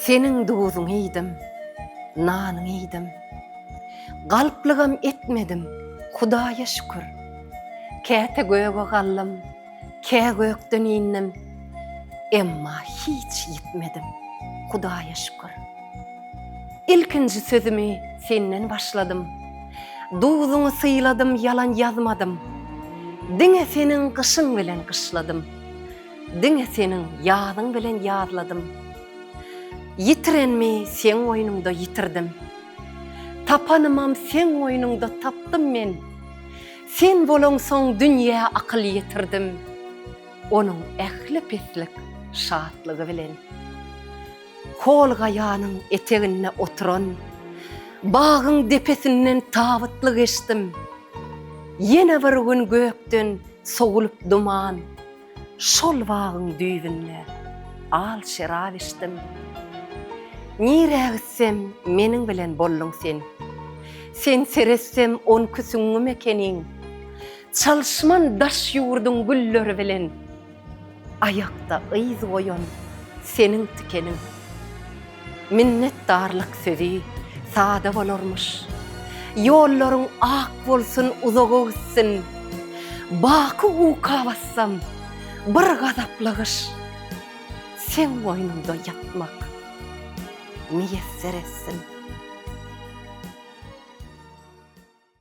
Seniň duzuňy iýdim, nanyňy iýdim. Galplygam etmedim, Hudaýa şükür. Käte göge galdym, kä gökden indim, emma hiç ýitmedim, Hudaýa şükür. Ilkinji sözümi Senden başladym, duzuňy syladym, ýalan ýazmadym. Diňe Seniň gyşyň bilen gyşladym. Diňe seniň ýazyň bilen ýazladym. Ýitirenmi seň goýnuňda ýitirdim. Tapanymam seň goýnuňda tapdym men. Sen bolaňsoň dünýä akyl ýetirdim. Onuň ähli pislik şatlygy bilen. Hol gaýanyň eteginde oturan bagyň depesinden tabytly geçdim. Ýene bir gün gökden sowulyp duman. Şol bagyň düýbünde al şerap içdim. Nirä gitsem, meniň bilen bolduň sen. Sen seretsem on iki süňňüm ekeniň. Çalyşman daş ýurduň gülleri bilen. Aýakda yz goýan seniň tikeniň. Minnetdarlyk sözi sada bolarmyş. Ýollaryň ak bolsun uzaga gitsin. Baky uka bassam bir gazaply gyş. Seň goýnuňda ýatmak miýesser etsin.